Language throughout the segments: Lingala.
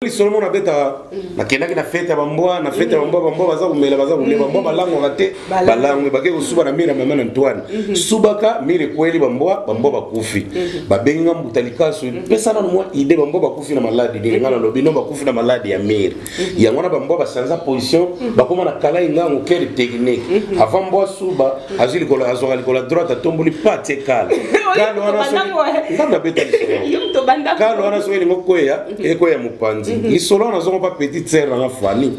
lisolo mona abetaka nakendaki na fete ya bambwa na fete ya bambwa bambwa baza komela baza kolia bambwa balangwaka te balangwe bake kosuba na mire ya mama na antoine mhm. subaka mire ekweli bambwa bambwa bakufi mhm. babengi nga mbuta likasu mhm. pesa nano mwa ide bambwa bakufi na maladi ndenge nga nalobi no bakufi na maladi ya mire yango wana bambwa basanza position bakoma na kalai ngango kele technique avant mbwa suba azwi likolo azwaka likolo ya droite atomboli pati ekala kalo wana soki ngambe abeta lisolo kalo wana soki elingo kweya eko ya mopanzi mhm. lisolo wana nazongo mpa petite sere nanga fani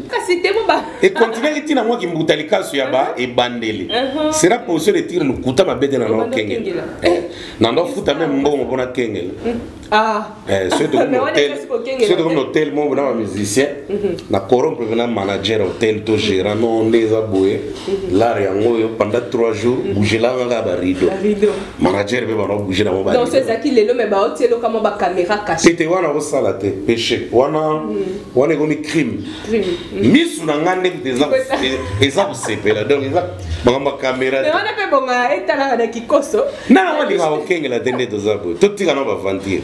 ekontinaki ntina mwa kimbuta likasu ya ba ebandeli sera position de tire lokuta babete na nao kengela eh, na ndo afuta meme mbongo mpona kengela mm. ah. eh, soki tokomi na hotel moko na bamusicien mhm. na corrompre na manager hotel to gérant no nde eza boye mhm. lare yango oyo pendant 3 jours bougelanga kaka barideau manager mpe bana obouge nango donc so ezalaki lelo me baotie eloka mwa bacaméra cache te wana osala te péché wana mm. wana ekomi crime mm. misu na ngai ndenge eza kosepela donc eza makambo ya caméra wana mpe bonga etalaka na kikoso na nango alingaka kokengela te nde toza boye totika na baventure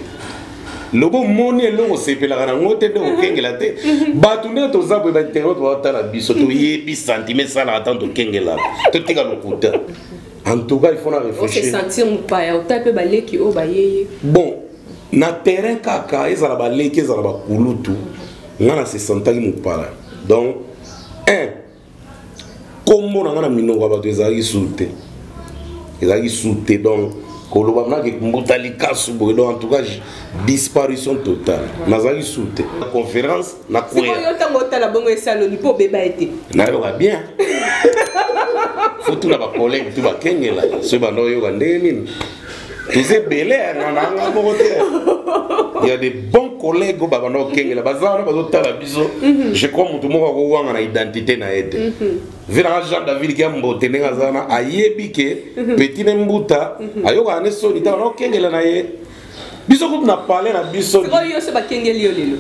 lobo moni eloko osepelaka nango te nde okengela te bato nde toza boye bainternet baotala biso toyebi sentime esalaka ntango tokengelaka totika lokuta en tout cas il faut na réfléchir se sentir mupaya ota pe baleki o bayeye bon na terrain kaka ezala baleki ezala bakulutu nga na se sentaki mupaya donc un kombo na nga na minoko ya bato ezalaki suru te ezalaki suru te donc koloba nake mbuta likasu boye donc en tout cas disparition totale nazalaki suru te conférence nakweyasikoyo ntango otala bongo esaloni mpo obeba ye te nayoka bien fotula bakolege tu bakengela soki banda oyoka ndenge nini toza ebele nananga moko te ya de bon collègue oyo babanda kokengela baza wana bazotala biso mhm. je crois motu moko akowanga na identité na ye te mhm. vinanga jean david kia mbote ndenge aza wana ayebi ke mhm. petit ne mbuta ayokaka ne soni ntango nakokengela na ye biso kutu na palais na biso sikoyo yo se bakengeli yo lelo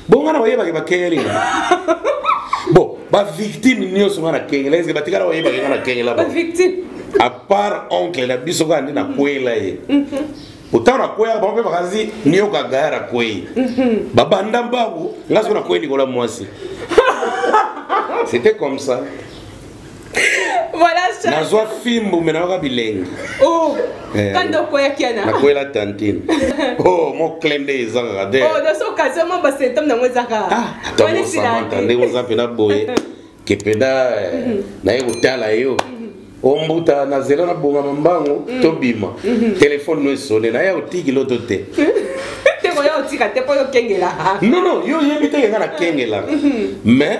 bonga na bayebaki bakengeli bon bavictime nyonso nga na kengela eske batikala bayebaki nga na kengela à part oncle na biso kaka nde nakwela ye otango mhm. nakweyaka bango mpe bakazi nioka gaya na kwei mhm. babanda mbangu nga soki nakwei likolo ya mwasi c'était comme ça voilà ça nazwa fimbu me nayoka bilengi oh eh, kanda okweyaki yana nakwela tantine oh mo cle nde eza kaka te oh naso occasion mo basymptome nango eza kaka ah ata mosamanta ndenge oza mpena boye ke mpena eh, mhm. naye kotala yo mhm. ombuta na zela na bonga mambango mhm. tobima telefone no esone naye otiki loto te te koya otika te mpo yo okengelaka nono yo oyebi te kenga na kengelaka mais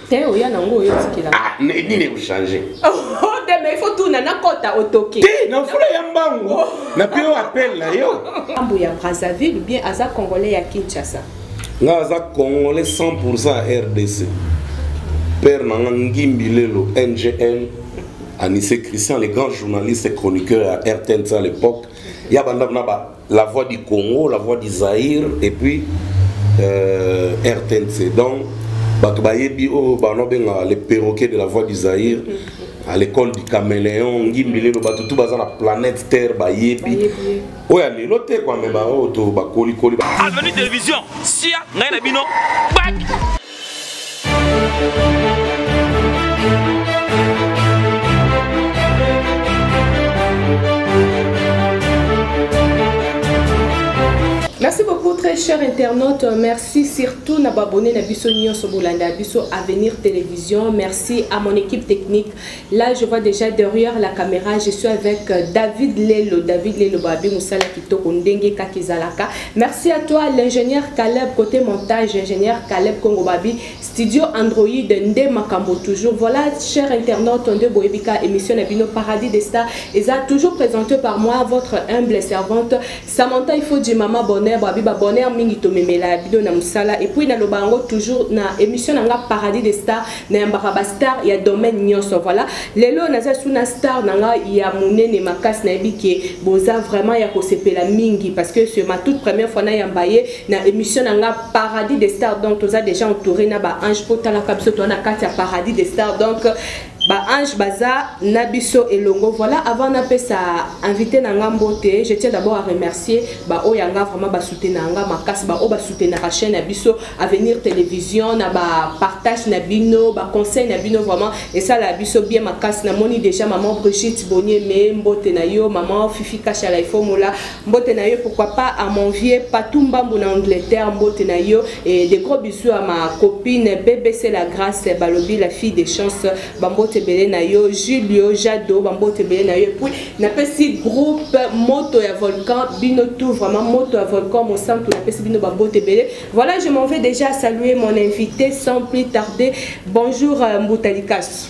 te oya nango oyo otikela ah, nini ekochange oh, te mais ifo tuna nakota otoke te na mfula ya mbangu oh. na mpe yo apele na yo ambo ya brazzaville bien aza congolais ya kinshasa nga aza congolais 100 rdc père na nga ngimbi lelo ngm anise christian le grand journaliste chroniqueur ya rtnc à l'époque ya bandako na ba la voix du congo la voix du zaïre et puis euh, rtnc donc bato bayebi oyo oh, bana obenga le perroquet de la voix du zaïre à l'école du caméléon ngimbi lelo bato tu baza na planète terre bayebi oyo ya lelo te kwame baoyo to bakolikoli avenue télévision sia ngai na bino bak Merci beaucoup très cher internaute. Merci surtout na abonné na biso nyonso bolanda biso Avenir Télévision. Merci à mon équipe technique Là, je vois déjà derrière la caméra, je suis avec euh, David Lelo. David Lelo, Babi Moussala Kitoko Ndenge Kakizalaka. Merci à toi, l'ingénieur Caleb, côté montage, ingénieur Caleb Congo Babi, studio Android, Nde Makambo, toujours. Voilà, cher internaute, Nde Boebika, émission Nabino Paradis des Stars, et ça, toujours présenté par moi, votre humble servante. Samantha il faut dire maman bonheur ba biba bonheur mingi to memela bido na musala et puis na loba ngo toujours na émission na nga paradis des stars na mbaka ba star ya domaine nyoso voilà lelo na za suna star na nga ya munene makasi na ebike boza vraiment ya ko sepela mingi parce que c'est ma toute première fois na ya mbaye na émission na nga paradis des stars donc toza déjà entouré na ba ange potala kabso to na kati ya paradis des stars donc ba ange baza na biso elongo voilà avant na pesa invité na nga mbote je tiens d'abord à remercier ba oyo nga vraiment ba soutenir nga makasi ba oyo ba soutenir chaîne na biso avenir télévision na ba partage na bino ba conseil na bino vraiment et ça la biso bien makasi na moni déjà maman Brigitte Bonier mais mbote na yo maman Fifi Kashala il faut mola mbote na yo pourquoi pas à mon vieux patou mbambu na angleterre mbote na yo et des gros bisous à ma copine bbc la grâce balobi la fille des chances bambote ebele na yo julio jado bambote ebele na yo epuis napesi groupe moto ya volcan bino tout vraiment moto ya volcan mosantu napesi bino bambote ebele voilà je m'en vais déjà saluer mon invité sans plus tarder bonjour euh, mbuta likasu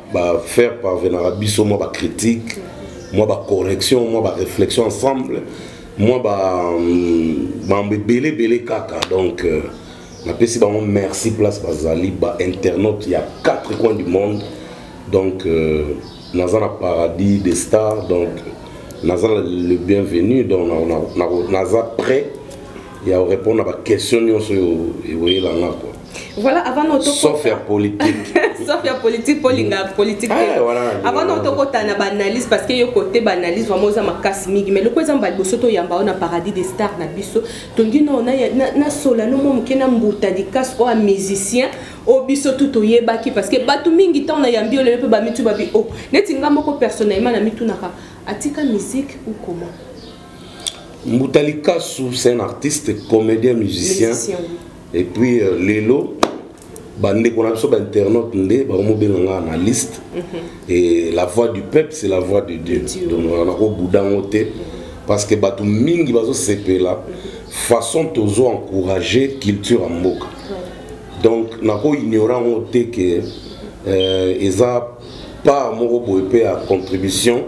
bafaire parvenaka biso mwa bacritique mwa bacorrection mwa baréflexion ensemble mwa bambo ebele ebele kaka donc euh, napesi bango merci place bazali bainternaute ya 4 coin du monde donc euh, naza na paradis des stars donc naza le bienvenu donc naza prêt ya korépondre na baquestion nyonso oyo eweelanga kua voilà avant no sauf ya politique sauf ya politique mpo olinga mm. politique te ah, avant no tokota na baanalyse parce que yo kote baanalyse vraiment oza makasi mingi mais loko eza mba liboso toyamba oyo na paradis des stars na biso tongi nao nasola no mwa moke na mbuta dikasi oyo musicien oyo biso tu toyebaki parce que bato mingi ntango nayambi olelo mpe bamitu babi o oh, neti nga moko personnellement na mitunaka atika musique ou comment mbuta likasu c'est un artiste comédien musicien, musicien oui. et puis euh, lelo bandeko na biso bainternaute nde bakomobenga ngai na liste mhm. et la voix du peuple c'est la voix de dieu donc nakobuda yango te parce que bato mingi bazosepela façon tozo encourager culture ya mboka donc nakoignora yango te ke euh, eza part moko boye mpe ya contribution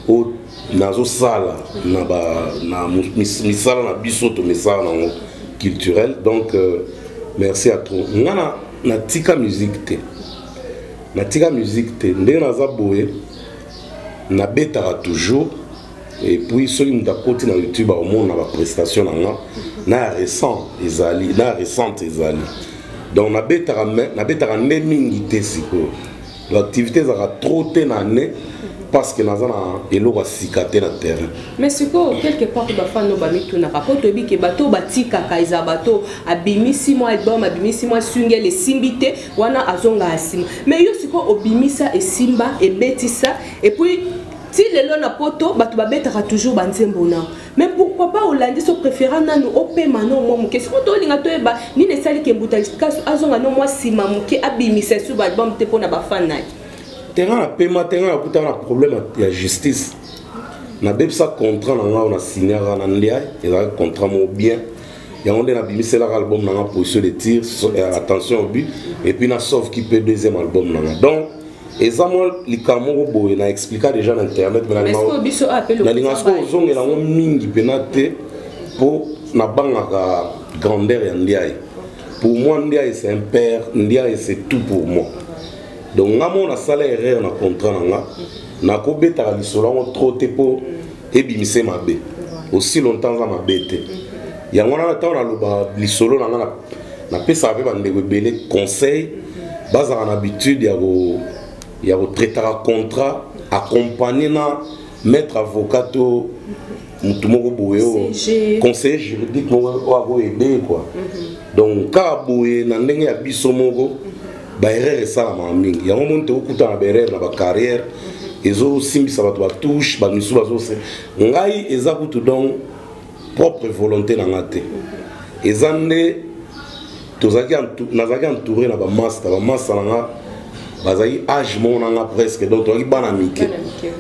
au nazosala na, ba, na mis, misala na biso to misala nango culturel donc euh, merci à trop nga na, natika musique te natika musique te ndenge naza boye nabetaka toujours et puis soki moto akoti na youtube akomona baprestation na nga na récent ezali na récente ezali donc nabetaka nde mingi te sikoyo l'activité ezalaka trop te na année parce que naza na eloko ya sika te na terrain mais sikoyo quelque part bafano bamitunaka mpo toyebi ke bato batikaka eza bato abimisi mwa album abimisi mwa swingel esimbi te wana azongaka nsima mais yo sikoyo obimisa esimba ebetisa epuis ti lelo na poto bato babetaka toujours banzembo na mais pourquoi pas olandi so préféra nanu opema no mwa moke soko tolinga toyeba nini esali ke mbuta likasu azonga no mwa nsima moke abimisa esu baalbum te mpo na bafan na ye terrain na pema terrain nakutaka na problème ya justice nabebisa contrat na ngai na signaka na ndia ezalaki contrat moko bien yango nde nabimiselaka album na ngai position de tir euh, attention au but epuis na sauve kipe deuxième album na ngai donc eza mwa likambo moko boye na explika déjà na internet nalinga soko ozongela yango mingi mpena te mpo nabangaka grandeur ya ndiaye pour moi ndiaye c'est un père ndiaye c'est tout pour moi donc nga moko nasala erreur na contrat na nga nakobetaka lisolo yango trop te mpo ebimise mabe aussi longtemps aza mabe te yango wana ntango naloba lisolo na ngai napesaka mpe bandeko ebele conseil bazala na habitude ya ko ya kotraitaka contrat accompagne na maître avocat to motu moko boye oyo conseiller juridique moko oyo akoede kua mhm. donc kaka boye na ndenge ya biso moko ba erreur esalamaka mingi yango moni tokokutana ba erreur na ba carrière ezosimbisa bato batouche bamisu bazose ngai eza kutu donc propre volonté na ngai te eza nde tozalaki nazalaki entouré na bamasta bamasta na ngai bazalaki age moko na ngai presque donc tozalaki bana mike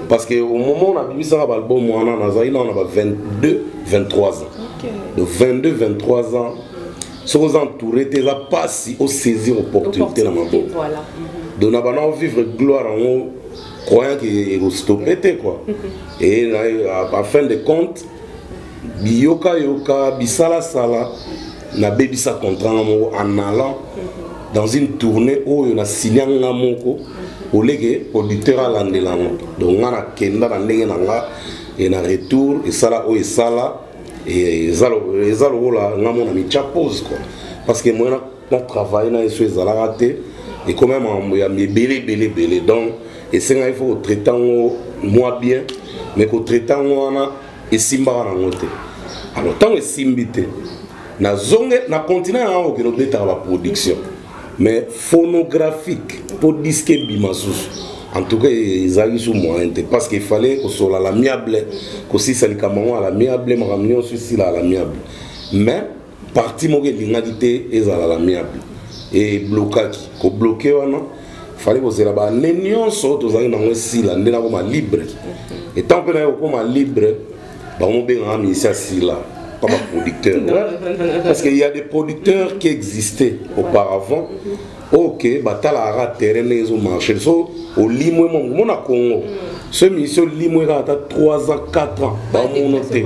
parce que au moment nabimisaka baalbum wana nazalaki nao na ba 22 23 ans de 22 23 ans soki oza entouré te eza mpasi osaisir opportunité na maboko mhm. donc na bana ovivre gloire yango croyant ke ekostope te kua e a fin de compte biyokayoka bisalasala nabebisa contrat nga moko en allant mhm. dans une tournée oyo na silia nga moko mhm. oleke producteur alandela ngo donc nga nakenda na ndenge na nga e na retour esala oyo esala eza lokola nga mona mitya pose quoi parce que moyen na travaille na yesu ezalaka te ekomema makambo ya ebele ebele ebele donc esengaki fo kotraite yango mwa bien mais kotraite yango wana esimbaka nango te alors ntango esimbi te nazonge na continent yango okende obetaka baproduction mais phonographique mpo diske ebima susu en tout cas ezalaki su moyen te parce que efallait kosola à l'amiable kosisa likambo yango à l'amiable makambo nyonso esila à l'amiable mais parti moko elingaki te ezala à l'amiable eblokaki kobloke wana fallait kozela baane nyonso tozalaki nango esila nde nakoma libre etant mpe naye kokoma libre bango bengaka ministère sila pas ma producteur ouais. parce qu'il y a des producteurs qui existaient auparavant ok batalaka terrain ndenge ezomarche so olimwe mo mona congo so émission olimwe kaka ata 3 ans 4 ans bamono te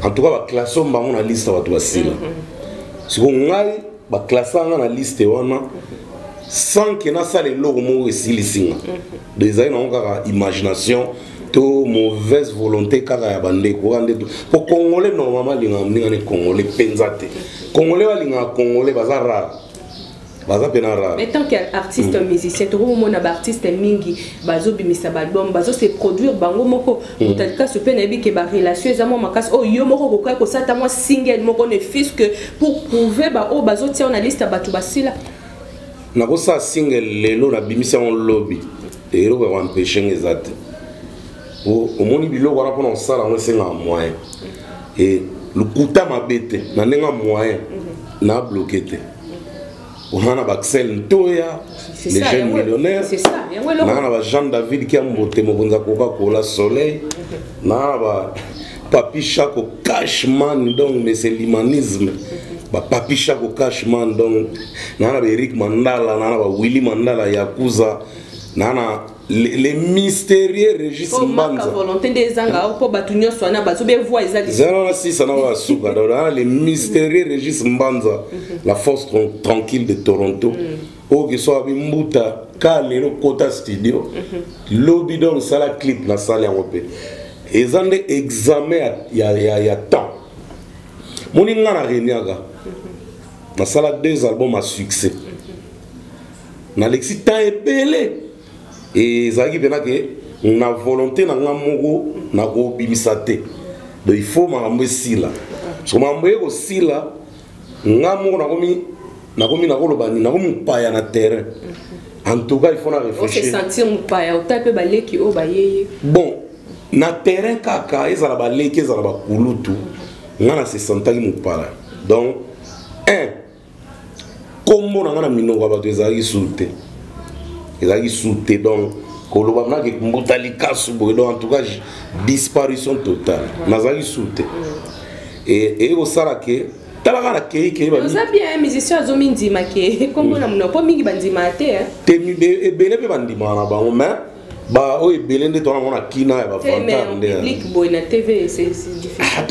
en tout cas baklasse oyo bango na liste bato basila siko ngai baklasa nga na liste wana sans ke nasala eloko moko esilisi nga do ezali nango kaka imagination to mauvaise volonté kaka ya bandeko kaka nde mpo congolais normalement alingaka mninga ne congolais mpenza te congolais balingaka congolais baza rare baza mpe na rare tant que artiste mm. musicien tokomomona baartiste mingi bazobimisa baalbum bazose produire bango moko motali kasi mpe nayebi ke barelation eza mwa makasi oyo oh, yo moko okokai kosata mwa single moko ne fiske pour prouve baoyo bazotia yo na liste ya bato basila nakosala single lelo nabimisi yango lobi eloko ya koampeshe nga eza te omoni biloko wana mpona kosala yango esengaka moyen e lokuta mabe te na ndenge ya moyen mhm. na bloke te oza na baxel ntoya le jeune millionnaire naa na ba jean david kiambote mokonzi ya coca cola soleil naa na ba papi shako cashman donc mais c'est l'humanisme ba papi shako cashman donc naa na ba eric mandala naa na ba willy mandala yakuza naa na le, le mystérieux Régis Mbanza volonté nde ezanga mpo bato nyonso wana bazo be voix eza wana sisa na wana suka ah, le mystérieux Régis Mbanza mhm. la force tranquille de Toronto mm. oyo kiso abi mbuta ka lelo kota studio mhm. lobi donc sala clip na sala yango mpe eza nde examen ya, ya, ya temps moni nga na reniaka mhm. nasala deux albums à succès nalekisi temps ebele ezalaki mpena ke na volonté na ngai moko nakobimisa te donc il faut makambo esila so makambo eye kosila ngai moko nakomi nakomi nakoloba nini nakomi mopaya na terrain en tout cas il faut na réfléchirsentir mopaya ota mpe baleki oyo bayeye bon na terrain kaka ezala baleki ezala bakulutu ngai na se sentaki mopaya donc un nkombo na ngai na minoko ya bato ezalaki su te ezalaki su te donc koloba nake mbuta likasu boye donc en tout cas disparition totale nazalaki su te eye kosala ke talaka na kei kei oza bien musicien azomindima ke nkombo na monoko mpo mingi bandimaka te te ebele mpe bandimaka na bango mais ba oyo ebele nde tona mona kina ya bavantar ndeato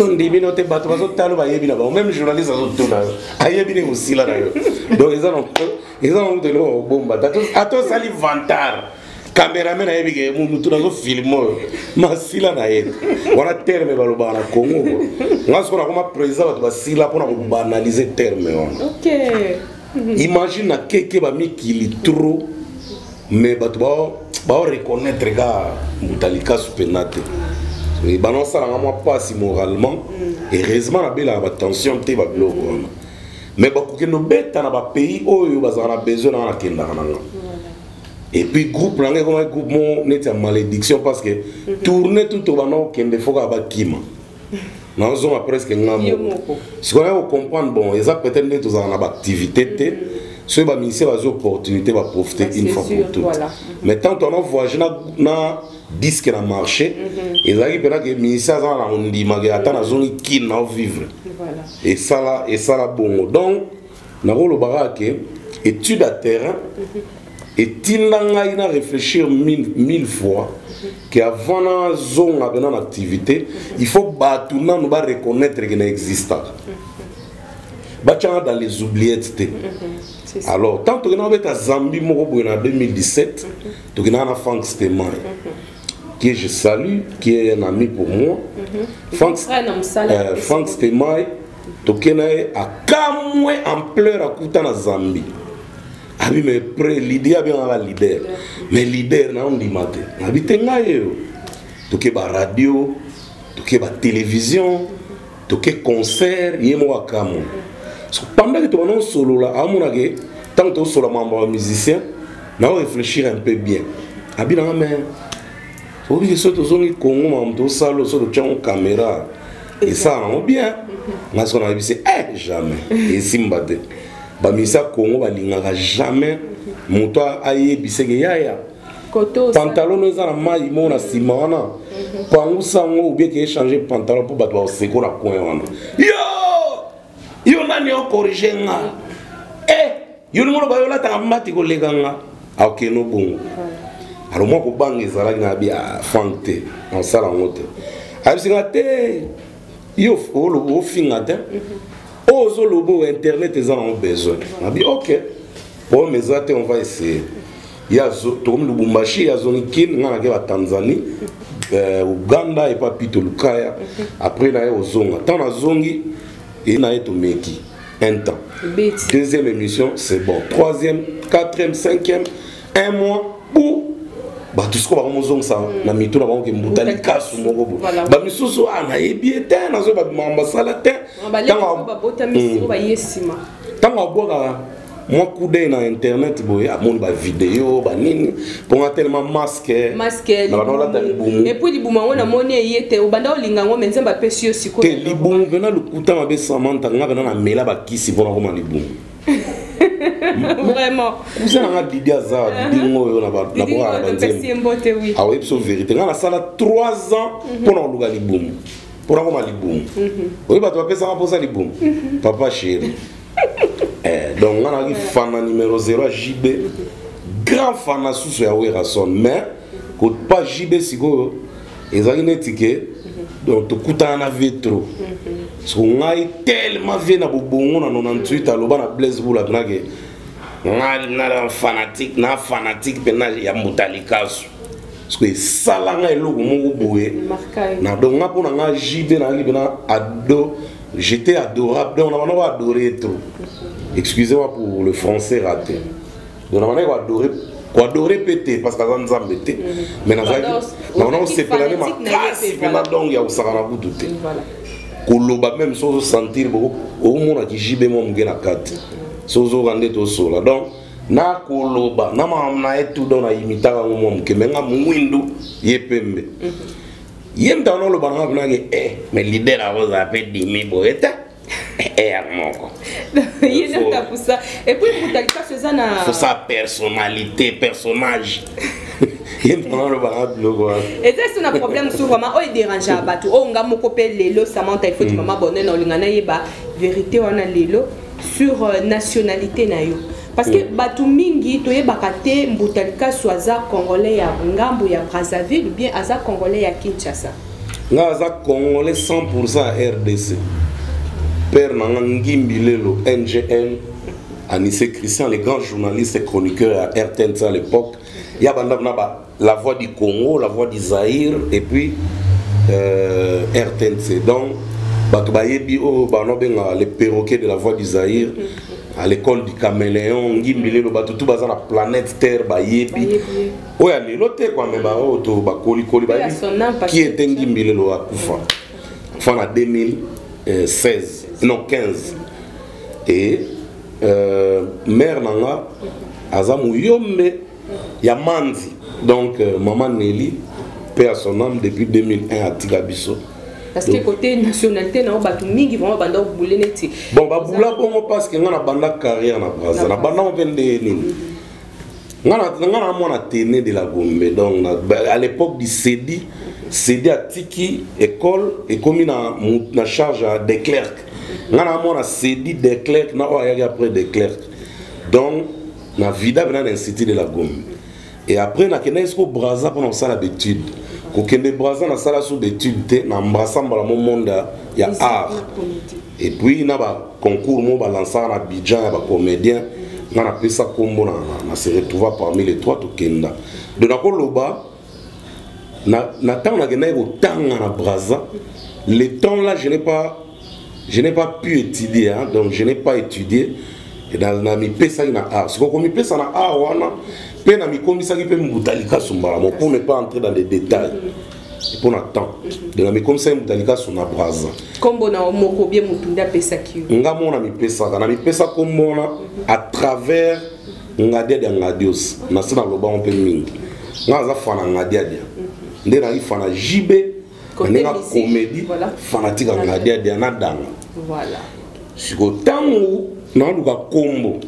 ndimi no te bato bazotala bayebi na bango meme journaliste azotuna yo ayebi nde mosila na yo donc eza nango teloko kobomba ata osali vantar cameraman ayebi ke motu nazofilme oyo masila na ye wana terme balobaka na congo ko nga sikoyo nakoma président bato basila mpona kobanalize terme wana imagine na keke bamikili trop mais bato bao reconnaître ka mbuta likasu mpenza te bana osalanga mwa mpasi moralement mm. heureusement nabelaka batension te babiloko wana mais bakokende obeta na bapays oyo bazala na besoin nanga nakendaka nanga et puis groupe nanga ekomaki groupe moko neti ya malédiction parce que mm-hmm. tourne tout obanda kokende fo kaka bakima nazozonga presque nga moko sikoyo yako comprendre bon eza peut-être nde tozala na baactivité te mm -hmm. soki baministère bazwi opportunité baprofite ah, une fois pour toute voilà. Mhm. mais tant tona voyage na, na disque na marché mm -hmm. ezalaki mpena ke ministère aza na kondimaka ata nazongi kine nao vivre voilà. esala esala bongo donc nakoloba kaka ke étude ya terrain etinda ngai na réfléchir mille, mille fois ke avant nazonga mpena na activité il faut bato nano bareconnaitre ke na existaka batyanga dans les oubliettes te alors tant tokenda kobeta zambi moko boye na 2017 tokendaka na frank stemay que je salue qui est un ami pour moi frank, euh, frank stemay tokena ye akamwe ampleur akuta na zambi abi me pre lidi abengaka leader me leader na ondima te nabi te ngai yeyo toke baradio toke batelevizio toke concert ye moko akamwe pendaki tobanda kosolola amonake ntango tokosolola mambo ya musicien nao réfléchir un peu bien abi nanga me oyebi ke soki tozongi congo makambo tosala oyo soki totyango caméra esala nango bien ngai soki nayebi se eh, jamais esimba te bamisa congo balingaka jamais moto ayebiseke yaya pantalon no eza na mai moko na nsima wana mhm. pangusa yango obie ke echange pantalon mpo bato bakoseko na coin wana yo yo nani okorige nga e eh! yo ndenge oloba yo olataka mbati koleka nga akeno bongo alors mwa kobanga ezalaki na bi ah, frank te nasala yango te ayebisi nga te yo ofinga te oyo oh, ozoloba oyo internet eza nango besoin nabi ok problème eza te on va essayer tokomi lubumbashi azongi kin nga nake batanzanie eh, uganda epa pito lukaya après naye ozonga ntango nazongi e naye tomeki un temps Beti. deuxième émission c'est bon troisième quatrième cinquième un mois ou bato sikoyo bango mozongisa mm. na mitu na bango ke mbuta likasu moko bo bamisusu a ah, nayebi ye te nazoyeba makambo asala te ntango abwakaka mwa coup d'œil na internet boye amoni bavideo banini mpo nga telema maske nabanolata libumu epuis libumu yango namoni eye te obanda olinga yango me nzambe apesi yo sikoyo te libumu mpena lokuta mabe samanta nga mpena namela bakisi mpo nakoma libumu vraiment kuza nanga didi aza didi ngo oyo na babokaa na banzembo aoyebi so verité nga nasala 3 ans mhm. mpo na koluka libumu mpo nakoma libumu mhm. oyebi bato bapesaka mposa libumu mhm. papa chéri eh, donc nga nazalaki fana numero 0 ya jb grand fana susu ya werason mais kopa jb sikoyo ezalaki neti ke donc tokutana na vie trop soko ngai tellement vie na bobongo na 98 aloba na blaise bula tunake ngai na fanatique na fanatique mpena ya motalikasu parceke esala ngai eloko moko boye na donc nga mpo na ngai jb nayaki mpena ado mm -hmm. J'étais adorable. Donc, on a adoré trop. Excusez-moi pour le français raté. Donc, on a adoré koadore mpe te parce que aza nzambe te mais nazalaki naona kosepela nde makasi mpena donc ya kosaka na kutu te koloba meme soki ozosentir okomona kijibe mwa moke na kati soki ozoka nde tosola donc nakoloba na makambo na ye tout donc na imitaka yango mwa moke me nga mwindu ye pembe mhm. ye moto wana oloba nanga kunaki e eh, me leader yango ozala mpe dimi boye te eya moko fosa personnalité personnage ye moto wana oloba nanga biloko wana eza esi na problème mosusu vraiment oyo ederangea bato oyo nga moko mpe lelo samanta ifoti mama bonene olinga nayeba verité wana lelo sur euh, nationalité na yo Parce que mm. batu mingi toyebaka te Mbuta Likasu aza congolais ya ngambo ya Brazzaville bien aza congolais ya Kinshasa. Nga aza congolais 100% ya RDC. Père na nga Ngimbi Lelo NGM Anissé Christian le grand journaliste et chroniqueur ya RTNC à l'époque. Ya banda na ba la voix du congo la voix du zaïre et puis euh, rtnc donc bato bayebi oyo oh, bana obenga le perroquet de la voix du zaïre à l'école du caméléon ngimbi lelo bato tu baza na planète terre bayebi oyo ya lelo te kwame baoyo to bakolikoli bayebi ki ete ngimbi lelo akufa enfin na 2016 non 15 et euh, mare na nga aza moyombe ya manzi donc euh, maman Nelly paix à son âme depuis 2001 atika biso parce que côté nationalité na bato mingi vraiment banda obule neti bon babula bongo parce que nga na banda carrière na braza na banda mpe nde nini nga na mwana tene de la gombe donc na, à l'époque du cedi cedi atiki école ekomi na, na charge ya declerc nga na mwana cedi declerc na oyo ayaki après declerc donc na vida mpe na na institut de la gomme et après nakendaki siko braza mpona kosala bétude kokende braza nasala so bétude te na embrassa mbala mo monde ya art et puis na baconcours mo balansaka na bidjan ya bacomédien nga napesa nkombo na se retrouva parmi les trois tokenda donc nakoloba na, na ntango nakendaki kotanga na braza le temps là je n'ai pas je n'ai pas pu étudier hein, donc je n'ai pas étudié namipesaki na art sikoyo komipesa na art wana mpe namikomisaki mpe mbuta likasu mbala moko pour ne pas entrer dans les détails mpo na temps de namikomisaki mbuta likasu na braza nkombo na moko bie motu nde apesaki yo nga moko namipesaka namipesa nkombo wana à travers ngadiadia ngadios nase nalobango mpe mingi ngai aza fana ngadiadia nde nayaki fana jb na ndenge akomedi fanatique ya ngadiadia na danga sikoyo ntango naluka nkombo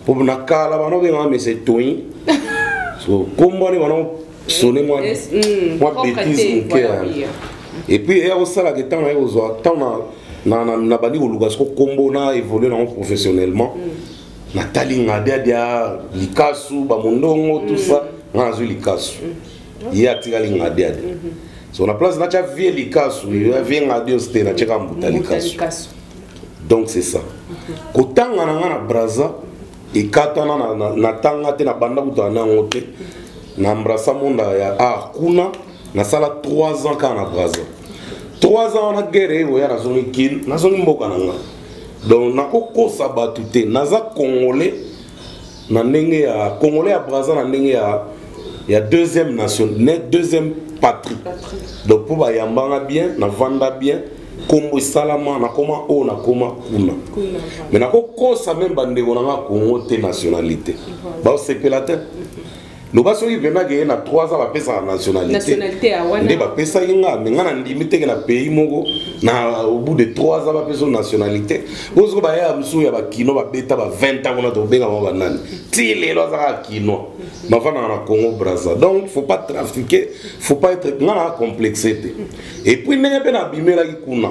mpo na kala bana obengaka mese toin so nkombo wana bana sone mwa mm, betise moke epuis eya kosalaka ntango naye kozwa ntango nabandi koluka siko nkombo na évolue nango professionnellement mm. natali nga diadia likasu bamondongo tout ça mm. nga nazwi likasu mm. ye atikali nga diadia mm-hmm. so na place natya vie likasu mm. vie nga dios te natyaka mbuta likasu donc c'est ça mm-hmm. kotanga na nga na braza ekatana natanga te nabanda kutana na yango te mm-hmm. na embrasa monda ya art kuna nasala 3 ans kaka na braza 3 ans wana guerre eyoya nazongi kil nazongi mboka na nga donc nakokosa bato te naza congolais na ndenge ya congolais ya braza na ndenge ya ya deuxième nation ne deuxième patrie donc mpo bayambanga bien navanda bien nkombo esalama nakoma oyo nakoma kuna me nakokosa meme bandeko na nga congo te nationalité baosepela te loba soki vraiment keye na 3 ans bapesaka nationalité nde bapesaki nga me nga na ndimi teke na pays moko na au bout de 3 ans bapesa nationalité oyo soki bayaya mosusu ya bakino babeta ba 20 ans kuna tobengama banani ti lelo azaka kinois bafandaka na congo braza donc faut pas trafiquer faut pas être nga na complexe te et puis ndenge mpe nabimelaki kuna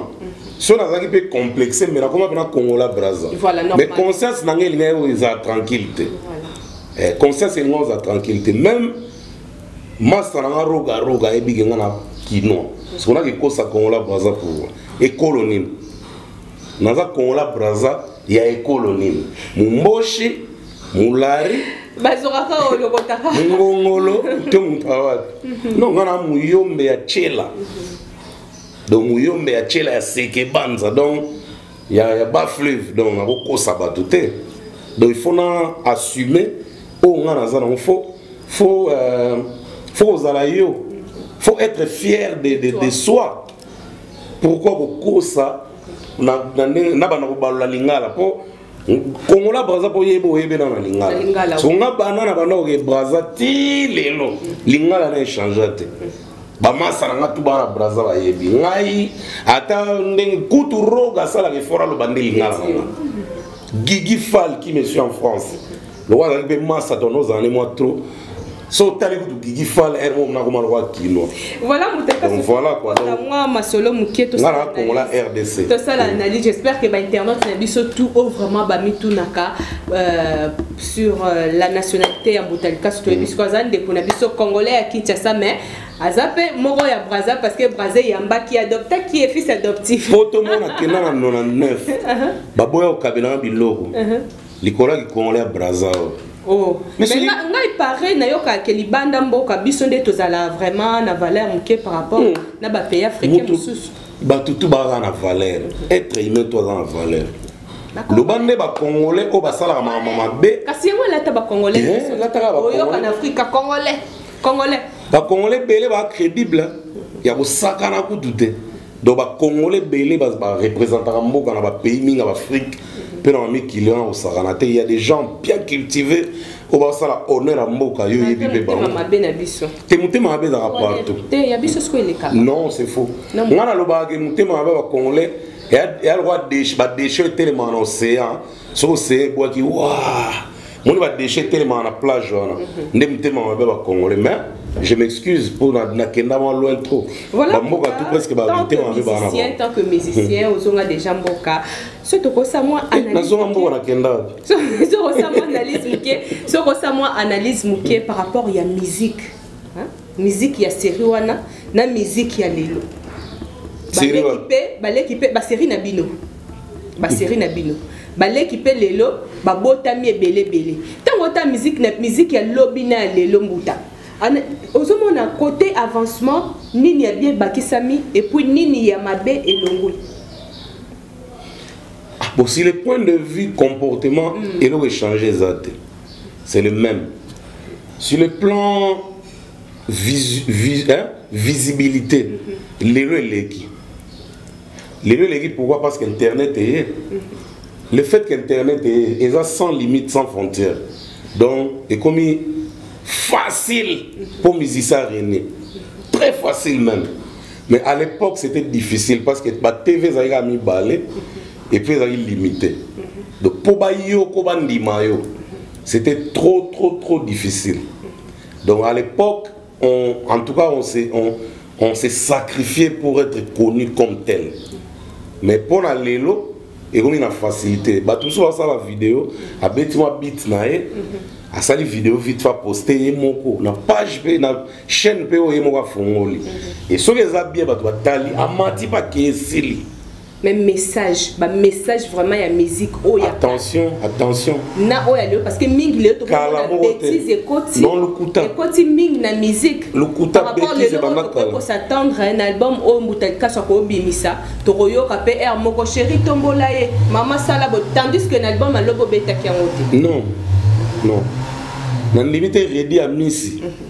soki nazalaki mpe complexe me nakoma mpe na congola braza mais conscience na ngai elingaki oyo eza tranquille te voilà. eh, conscience elinga oza tranquille te même masta na nga roga roga ayebike nga na kinois sikonaki kosa kongola braza pouvoir ekolo nini naza kongola braza ya ekolo nini momboshi molari bazokaka oyo lokotaka ngongolo to moto awapi no nga na muyombe ya chela donc muyombe ya chela ya sekebanza donc ya ya ba fleuve donc nakokosa bato te donc il faut na assumer oyo ngai naza nango fo fo euh, fo kozala yo fo être fier de, de, de soi pourquoi kokosa na, na, na bana kobalola lingala mpo kongola braza mpo yebe oyebe na na lingala songa bana na bana oke braza ti lelo lingala na echangea te bamasa na nga tu bana braza bayebi ngai ata ndenge kutu roga asalaka effort aloba nde lingala na nga gigi fal qui me suis en france lokola azali mpe masa tono ozala ne mwa trop so otali kutu gigi fal r mo nakoma lokola kino voilà kuamwa masolo moke nga na kongola rdc tosala analyse j'espère que bainternaute na biso tout o vraiment bamitunaka euh, sur euh, la nationalité ya mbuta likasu toyebi mm. siko aza ndeko na biso congolais ya kinshasa mais aza mpe moko ya braza parce que braza eyambaki adopta ki ye fils adoptif po tomona kenda na 99 uh-huh. baboya kokabela na biloko uh-huh. likolo ya kikongolais ya braza oyo Oh. Mais mais nga, ngai pare nayoka ke libanda mboka biso nde tozala vraiment na valeur moke par rapport mm. na bapays africain mosusu bato tu baza na valeur être humain to aza na valeur loba nde bacongolais oyo basalaka makambo mabe kasi yango elata bacongolais eh, elataka baoyoka na afrika congolais congolais bacongolais ebele bacrédible ya kosakana kutu te donc bacongolais ebele barepresentaka mboka na bapays mingi ya baafrike mpe na bamikili wana kosakana te ya des gens bien cultivés oyo basala honneur ya mboka yo oyebi mpe bango te motema mabe ezalaka partout non c'est faux ngai nalobaka ke motema mabe ya bacongolais ya lokwa badeshe etelemaka na océan soki océan ebwaki wa moni badeshe etelemaka na plage wana mhm. nde motema mabe bacongolais mais je m'excuse pour nakenda mwa loin trop voilà bamboka tout presque bamitema mabe banaa tant que musicien mhm. ozonga déjà mboka so tokosa mwa eh, nazonga mboka nakenda wapi sokosa mwa analyse moke sokosa mwa analyse moke par rapport ya musique miziki ya seri wana na miziki ya lelo baleki mpe baseri na bino baseri na bino baleki mpe lelo babotami ebele ebele ntango ota miziki na miziki ya lobi na ya lelo mbuta ozomona kote avancement nini ya bien ebakisami epuis nini ya mabe elongwe ah, bon si le point de vue comportement mm. eloko echange eza te c'est le même sur le plan vis, vis, hein, visibilité mhm. lelo eleki lelo eleki pourquoi parce qu'internet eye mhm. le fait qu'internet eye eza sans limite sans frontière donc ekomi facile pour musicien rené très facile même mais à l'époque c'était difficile parce que batv ezalaki ya mibale et puis ezalaki limité donc mpo bayoko bandima yo c'était trop trop trop difficile donc à l'époque on, en tout cas on s'est on, on s'est sacrifié pour être connu comme tel mais mpo na lelo ekomi na facilité bato mosusu basala video abeti mwa bit na ye asali video vite fa poste ye moko na page mpe na chaîne mpe oyo ye moko afongoli e soki eza bien bato batali amati bakee esili mais message ba message vraiment ya musique oyo oh, attention attention na oyo oh, lelo parce que mingi lelo tokomona bêtise ekoti ekoti mingi na musique par rapport lelo oyo ko s'attendre un album oyo oh, mbuta likasu akobimisa tokoyoka pe air moko chéri tombola ye mama sala bo tandis que na album alobo betaki yango te non non na ndimi te redi ya misi mm -hmm.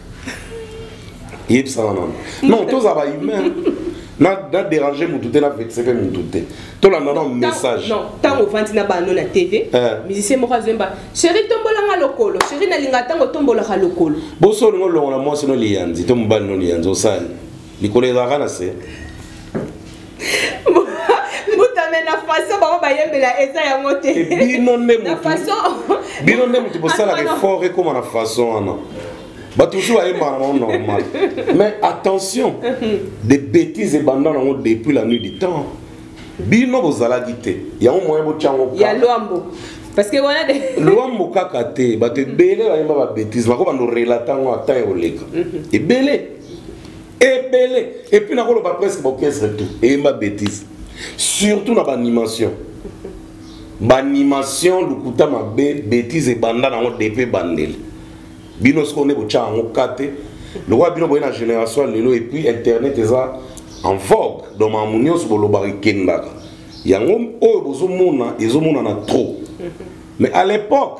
yebisanga nano non tozala ba humain naderange motu te navexe mpe motu te tolanda na message ntango ovandi na bano na tv eh. musicien moko azoyemba sheri tombolanga lokolo sheri nalinga ntango tombolaka lokolo boso olingo olongola mwasi no liyanzi to mobali no liyanzi osali likolo ezalaka na se mbutame na façon bango bayembela eza yango te eh, bino nde bino nde motu bosalaka effort ekóma na façon wana bato mosusu bayembaka nango normal mais attention des bêtises ebanda nango depuis la nuit du temps bino bozalaki te yango moyen botyango ya lwambo parce que wana de lwambo kaka te bato ebele bayemba babétise nakobanda orelata yango ata ekoleka ebele ebele epuis nakoloba presque baorchestre tout eyemba bétise surtout na baanimation baanimation lokuta mabe bétise ebanda nango depe bandeli bino sikoyo nde botya yango ka te lokola bino boye na génération lelo epuis internet eza en vogue donc makambo nyonso bolobaka ekendaka yango oyo bozomona ezomonana trop mais à l'époque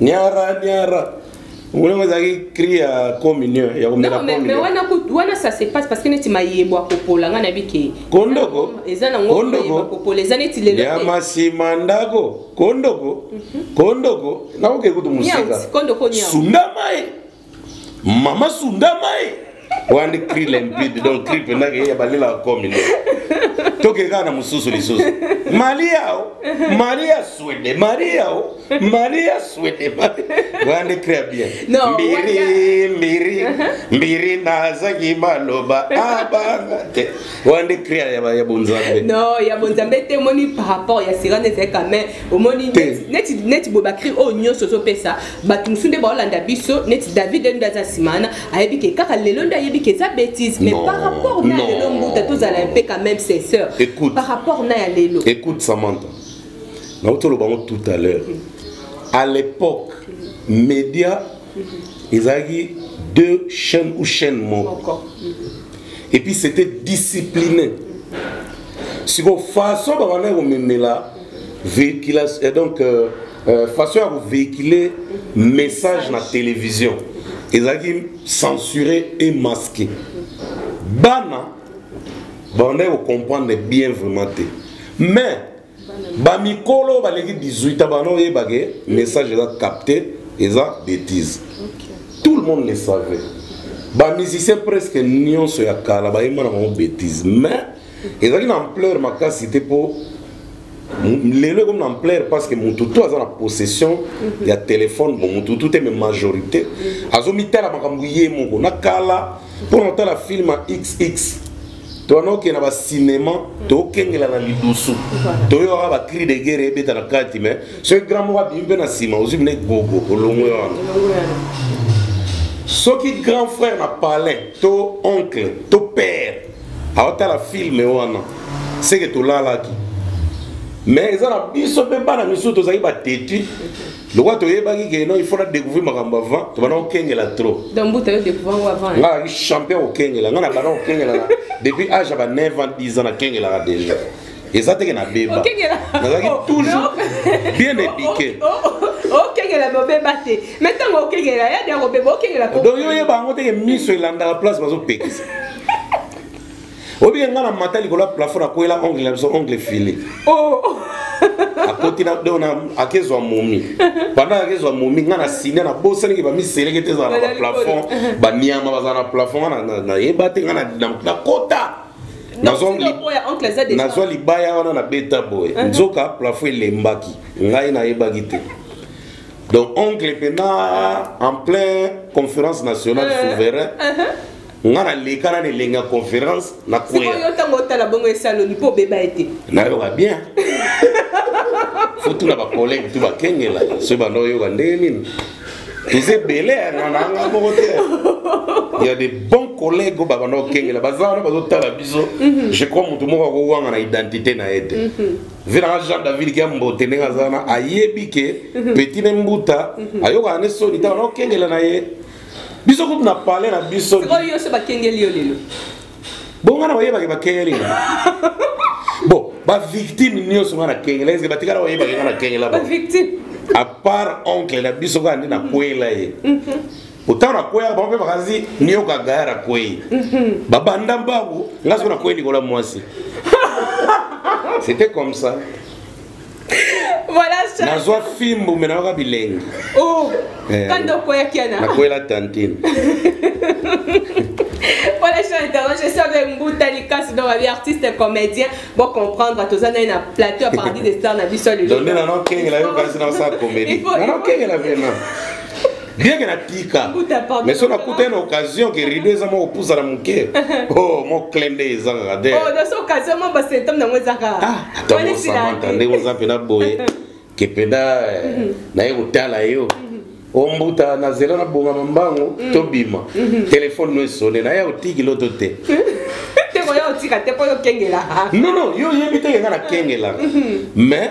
Niara, niara. Ngulongo ezalaki cri ya communion ya komela pombe. Wana wana ça se passe parce que neti mayebo akopola nga na bike. Kondoko. Eza na ngo mayebo akopola eza neti lelo. Ya masima ndako. Kondoko. Mhm. Kondoko. Na oke kutu musika. Kondoko nyawo. Sunda mai. mama sunda mai wandi cri limpide donc cri mpenza keye ya balela akomi nde tokei kaka na mosusu lisusu maria o maria swede maria o maria swede wandi cri ya bien mbiri mbiri mbiri nazaki baloba abanga ah, te wandi cri ya bonzambe no ya bonzambe te omoni par rapport ya sirane ezali quand même omoni neti boye bacri oyo nyonso ozopesa bato mosusu nde baolanda biso neti david nde aza nsima wana ayebi ke kaka lelo nde ayebi ke eza betise mais par rapport na lelo mbuta tozala mpe quand même ses sœur par rapport na ya lelo écoute samantha nauti oloba yango tout à l'heure à l'époque média ezalaki deux chaînes ou chaîne moko et puis c'était discipliné sikoyo façon babandaki komemela véhiculation donc euh, euh, façon ya kovéhicule message na télévision ezalaki censuré et masqué bana bandaki kocomprendre bien vraiment te mais bamikolo baleki 18 a bana oyebake message eza capté eza bétise tout le monde le savait bamusicien presque nyonso ya kala bayemba na bango bétise mais ezalaki na ampleur makasi te mpo lelo ekomi na ampleur parce que motu to aza na possession ya telefone bon motu tu te me majorité azomitala makambo ye moko na kala mpo na kotala film ya xx towana okende na bacinema tokengela na lidusu toyoka bacri de guerre ebeta na kati mais soki grand moko abimi mpe na nsima ozwi mine gogo olongwe wana soki grand frère na palin to oncle to père aotala filme wana seke tolalaki mais eza na biso mpe bana misusu tozali bateti lokola toyebaki ke non il faut na découvrir makambo avant tobanda kokengela trop nga alaki champion kokengela nga na banda kokengela depuis age ya ba 9 ans 10 ans nakengelaka déjà eza teke na beba nazalaki toujours bien éduqué okengela bobeba te me ntango okengela ya de akobeba okengela donc yo oyeba yango teke miso elandaka place bazopekisa obike ngai na mata likolo ya plafond akwela ongle na biso ongle file oh. akoti na do na akezwa momi banda akezwa momi ngai na sine na bosaniki bamiseleke te ezala na baplafond baniama bazala na plafond ngai nayeba te ngai nakota nazwa libaya wana na beta boye uh-huh. nzoka plafo elembaki ngai nayebaki te donc oncle mpena uh-huh. en plein conférence nationale uh-huh. souverain nga naleka na elengi ya conférence na kweyo ntango otala bongo esaloni mpo obeba ye te nayoka bien fotuna bacollege tu bakengela soki banda oyoka ndenge nini toza ebele nana nga moko te ya de bon collègue oyo babanda kokengela baza wana bazotala biso mhm. je crois motu moko akowanga na identité na ye te mhm. vinaka jean david kia mbote ndenge aza wana ayebi ke mhm. petit ne mbuta ayokaka ne soni ntango na kokengela na ye biso kutu na palais na biso yo se bakengeli yo lelo bo nga na oyebaki bakengeli nga bo bavictime nyonso nga na kengela eske batikala oyebaki nga na kengela bo à part oncle na biso kaka nde nakwela ye otango nakweyaka bango mpe bakanisi nioka gaya nakwei babanda mbangu nga soki nakwei likolo ya mwasi c'était comme ça voilà ça nazwa fimbu me nayoka bilengi oh eh, kanda okweyaki yana nakwela tantine voilà je suis internet je suis avec Mbuta Likas donc avec artiste comédien bon comprendre tous on a une plateau à partir des stars na biso le donc non non kenge la yo kasi na sa comédie non non kenge la vraiment rien que natika mais so nakuta ye na occasion ke rido eza mwa kopusa na moke o oh, mwa cle nde eza kaka te oh, ah, atamosamanta ndenge oza mpena boye ke mpena eh, mhm. naye kotala yo mhm. ombuta na zela na bongama mbango mhm. tobima telefone no esone naye otiki loto te non non yo oyebi te ke nga nakengelaka mais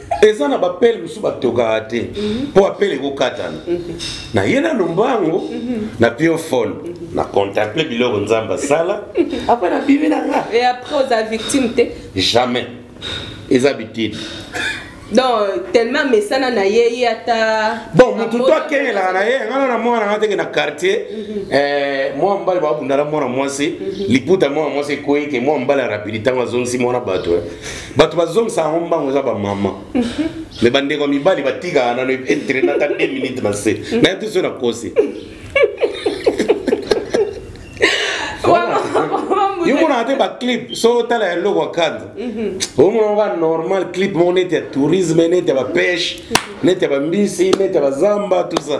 eza na bapele mosusu batokaka te mpo mhm. apele ekokatana mhm. na ye na lombango mhm. na pio fone na contemple biloko nzambe asala apre na bimi na nga e apres oza victime te jamais eza bitide donc tellement mesana na ye ye ata bon motu to akengelaka na ye ngana na mwana nga teke na quartier mhm. eh, mwa mobali babundala mwana mwasi mhm. liputa mwana mwasi ekwei ke mwana mobali arapidi ntango azongisi mwana bato eh. bato bazongisa yango mbango eza bamama me bandeko ya mibali batikaka nano entraine ata 2 minute na se naye te so nakosi yomonaka te baclip so otala ya eloko ya kanda omonaka ba normal clip moko neti ya tourisme neti ya bapeshe neti ya bambisi neti ya bazamba tout ça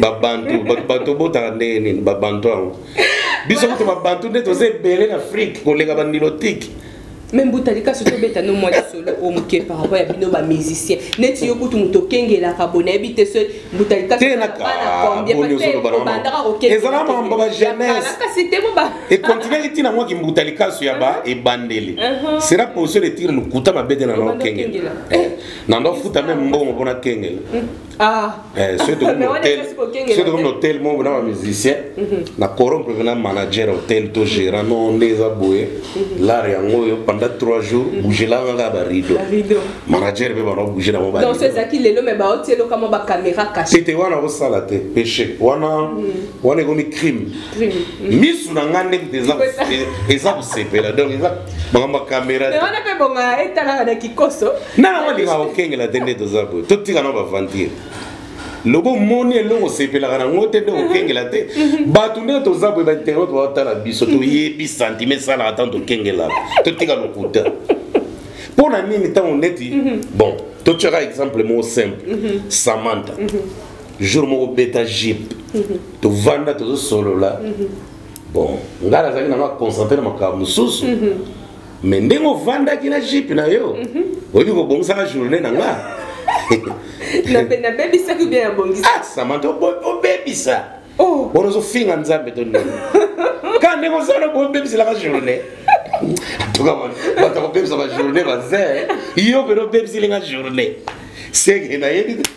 babantu bato obotaka ndenge nini babantu yango biso kutu babantu nde toza ebele na afrike koleka banilotike me mbuta likasi tobeta no mwa lisolo oyo moke par rapport ya bino bamusicien neti yo kutu moto okengelaka bo nayebi te so mbuta likasiobandaka mambo bajeunesse te boba ekontinaki ntina mwaki mbuta likasu ya ba uh-huh. ebandeli uh-huh. sera position de tire lokuta mabete na nao kengela eh, na ndofuta meme mbongo mpona kengela hmm. Ah. Eh, soki tokomi hotel soki tokomi hotel moko na bamusicien mhm. na corrompre pena manager hotel to gérant no nde eza boye mhm. lar yango oyo pendant trois jours mhm. bougelanga kaka barido manager mpe bana bouge nango tete wana kosala te péché wana wana ekomi crime misu na ngai nde eza kosepela donc eza makambo ya kamera te wana mpe bonga etalaka na kikoso nana walinga kokengela te nde toza boye totika na baventure lobo moni eloko osepelaka nango te nde okengela te mhm. bato nde toza boye bainternet batala biso mhm. toyebi santime esalaka ntango tokengelaka totika lokuta mpo na nini ntango neti mhm. bon totyaka exemple moko simple samantha jour moko beta jipe tovanda tozosolola bon ngai nazalaki nanga concentre na makambo mosusu mm -hmm. mais ndenge ovandaki na jipe na yo mm -hmm. oyebi kobongisaka journée na nga nabebisaki bien nabongisa ah, samanta obebisa oh. bona ozofinga nzambe to ndenge ka ndenge ozala bobebiselaka journée tuka bato akobebisa bajournée baze yo pene obebiselinga journée seke nayebi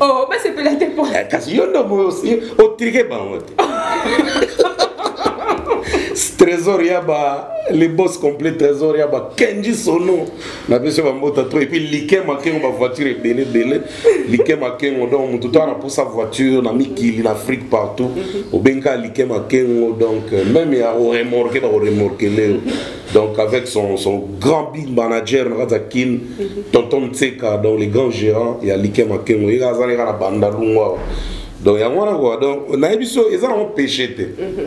oh basepela te po eh, kasi yo ndo otrike bango te trésor ya ba les boss complet trésor ya ba kenji sono na biso bambota to epuis like makengo bavoiture ebele ebele like makengo donc motu to ana mposa voiture na mikili na afrique partout obengi kaka like makengo donc euh, meme ya oremorke bakoremorkele yo donc avec son, son grand big manager na kati ya kin mhm. tonton mtseka donc le grand gérant ya like makengo ye azali kaka na banda lungu awa donc yango wana kua donc nayebi so eza nango péché te mhm.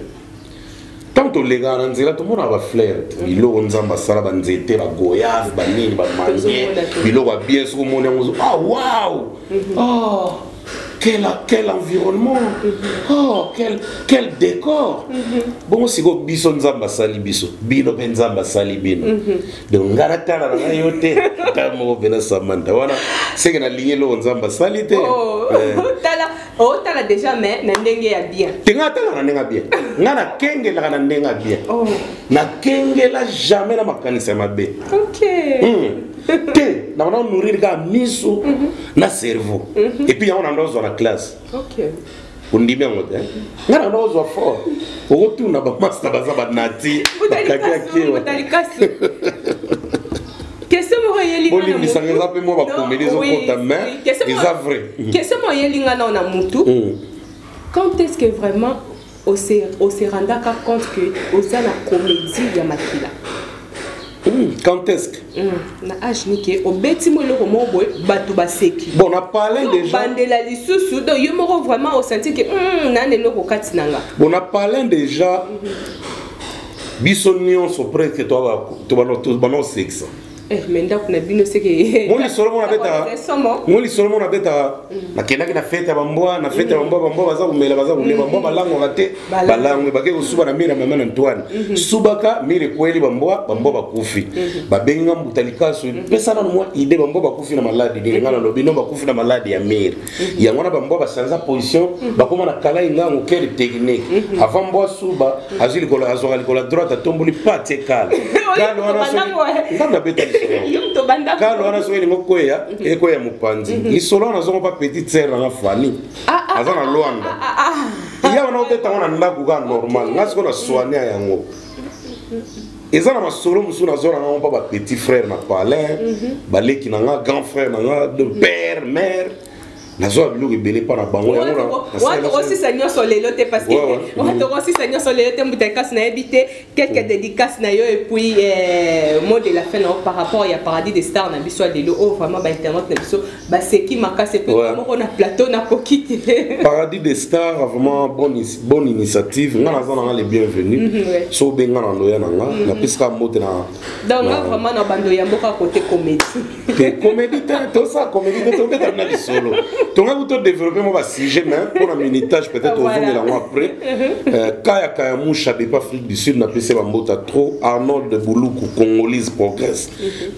ntango tolekaka na nzela tomonaka bafleur mhm. biloko nzambe asala banzete bagoyave banini bamange biloko ya bien soki omoni yango ah waw ah. quel, quel environnement mm-hmm. oh, quel, quel décor mm-hmm. bongo sikoyo biso nzambe asali biso bino mpe nzambe asali bino mm-hmm. donc ngai natala na ngai yo te ta moko mpe na samanta wana seke nalingi eloko nzambe asali te oh, eh. otala oh, déjà mais na ndenge ya bien te ngai atala na ndenge ya bien ngai nakengelaka na ndenge ya bien oh. nakengela jamais na makanisi ya mabe okay. mm. te na bana nourrir kaka miso mhm. na cerveau mhm. epuis yango na ndo ozwa na classe ondimi yango te ngai na ndo ozwa fort okotuna bamasta baza banati bakakiakewa bolimbisa nga eza mpe mwa bakomeli ezokota mais eza vrai kese moyelinga nao na mutu quand est ce que vraiment ose ose rendaka compte que oza na comédie ya makila oui quand est-ce que mm, na age nike obeti mo eloko moko boye bato baseki bon na parle déjà bandela lisusu donc yo moko vraiment osanti ke mm, nani eloko kati na nga bon na parle déjà biso nyonso presque tobana osekisa Eh, mais ndako na bino seke ngo lisolo mona betaka ngo lisolo mona betaka nakendaki na fete ya bambwa na fete ya bambwa bambwa baza komela baza komela bambwa mm. balangwaka te balangwe bakei kosuba na mire ya mama na antoine mm-hmm. subaka mire ekweli bambwa bambwa bakufi mm-hmm. babengi nga mbuta likasu mm-hmm. pesa nano mwa ide bambwa bakufi na maladi nini nga nalobi no bakufi na maladi ya mire Mhm. yango wana bambwa basanza position mhm. bakóma na kala engango quelle technique mhm. avant mbwa suba azwi likolo azwaka likolo ya droite atomboli pate kala kala wana ntango abeta kala wana soki elingo kweya ekweya mopanzi lisolo wana azongo mpa petite sere nanga fani ah, ah, aza na ah, lwanda ya wana obetango na ndako kaka normal nga sikoyo na soinia yango eza na masolo mosusu nazwa na ngai mpa ba petit frère na palin mhm. baleki na ngai grand frère na ngai de mhm. père mère nazwa biloko ebele mpa na bango yangookosisa nyonso lelo te parceokosisa nyonso lelo te mbuta ekasi nayebi te quelque mm. dédicace na yo epuis euh, mot de la fin na yo par rapport ya paradis de star na biso ya lelo oyo oh, vraiment bainternet na biso baseki makasi epe ouais. moko na plateau nakoki te paradis des stars vraiment bonne, bonne initiative nga naza nanga le bienvenu mm -hmm, ouais. so obenga na ndoya na nga mm -hmm. napesaka mbote na donc nga vraiment na bando ya mboka kote comédie te comédie te tosa comédie te tobeta na lisolo tonga kuto développer mo basujet mais mpo na minitage peut-être ozongela yango après mhm. euh, kaya kaya musha depa afrique du sud napesi bambota trop arnold buluku congolise progresse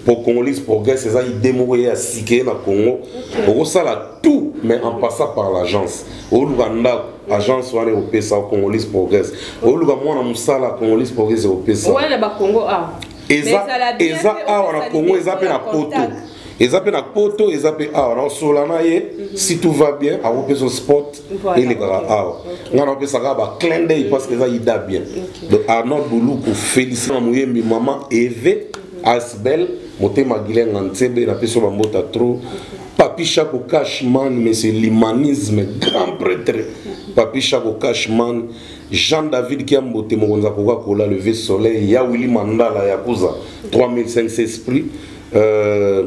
pour congolais progrès eza idée moko ya sikeye na congo okosala tout mais en passant par l'agence oluka ndako agence wana ekopesa congolais progrès oluka mwana mosala congolais progrès ekopesa eza awa na congo eza mpe na poto eza mpe na poto eza mpe awa naosola na ye mhm. si tout va bien akopesa sport elekaka awa ngai napesaka ba clin d'oeil parce que eza ida bien donc arnold buluku félicité na moyembi mama eve asbel motema gilenga nsebe napesi yo bambota trop papi shako cashman mais c'est l'humanisme grand prêtre papi shako cashman jean david kiambote mokonzi akoka kola levé soleil ya willi mandala yakuza 3500 esprit euh,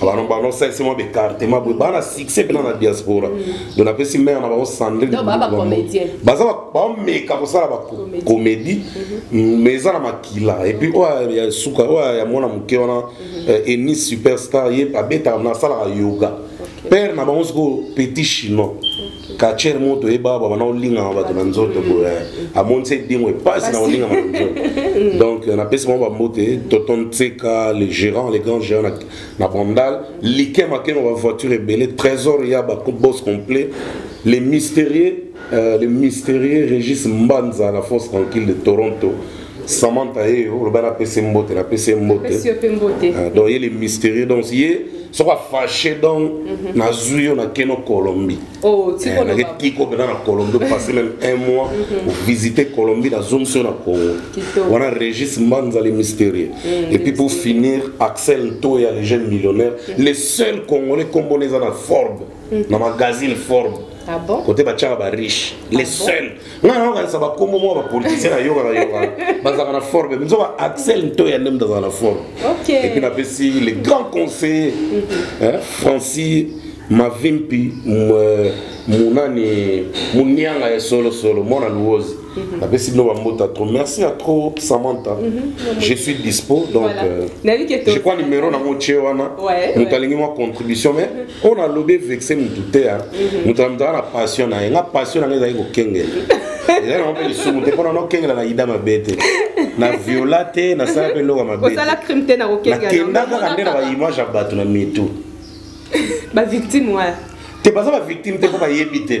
bano bano salisi mwa baecartement boye baa na succès mpena na diaspora mm. do napesi mare na bango sandrine baza bameka kosala bacomédie mm-hmm. mais eza na makila epuis oyo ya suka oyo ya mwana moke wana mm-hmm. eh, eni superstar ye abetaka nasalaka yoga père na bango sikoyo petit chinois kacher moto oyeba baba na olingama bato na nzoto boye amonisa edingo epasi na olingama na nzoto mm. donc euh, napesi bango bambote toton nseka le gérant le grand gérant na, na bandal like makengo bavoiture ebele trésor ya bos complet le mystérieux euh, le mystérieux régis mbanza la force tranquille de toronto Samantha ye eh, oloba na pese mbote na pese mbote ah, donc ye le mystérieux donc ye soko afashe donc mhm. nazwi yo nakeno colombie oh, eh, naketiko mpena na colombie opase meme un mois mhm. ovisite colombie nazongisi yo na congo wana régis mbanza le mystérieux mm, et puis pour finir axel ntoya le jeune millionnaire mm. le seul congolais kombona eza na forbe mm. na magazine forbe ah bon? côté batiaka bariche ah le bon? seul nga nayokanisa bakombo mwa bapolitisien nayokaka yoka bazalaka na forme biso ba axel ntoya nde moto azala na forme epuis napesi le grand conseiller mhm. francis mavimpi munani munianga ya solosolo mwana luozi mhm. napesi bino bambota trop merci ya trop samantha mhm. je suis dispo donc euh, je crois numéro nango otie wana moto alingi mwa contribution mais oyo nalobi evexe motu te ya moto na moto aa na passion na ye nga passion na ngai ezali kokengela ezali nango mpe lisumu te mpona nokengela na ida mabe te na viola te nasala mpe eloko mabekenda kaka nde na baimage ya bato na mitu bavictime wana te baza bavictime te mpo bayebi te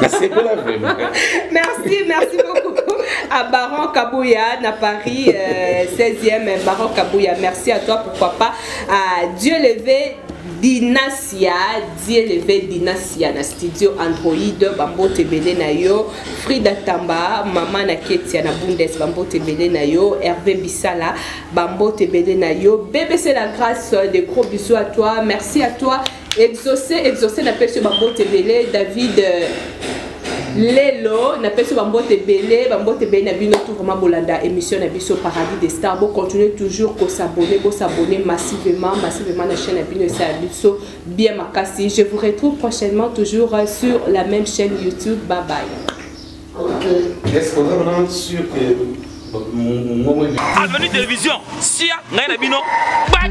nasepela vraiment merci merci beaucoup à Baron Kabouya na Paris euh, 16e Baron Kabouya merci à toi pourquoi pas à Dieu levé dinasia die leve dinasia na studio android bambote ebele na yo frida tamba mama na ketia na bundes bambote ebele na yo herve bisala bambote ebele na yo bbc la grâce de gros bisous à toi merci à toi Exauce, exauce, na pesi ba mbote belé, David. Euh, lelo napesi yo bambote ebele bambote ebele na bino tout vraiment bolanda émission na biso paradis des stars bocontinue toujours kosabone bosabone massivement massivement na chaîne na bino esala biso bien makasi je vous retrouve prochainement toujours sur la même chaîne youtube bye bye okay. est-ce qu'on est vraiment sûr que avenue télévision sia ngai na bino bak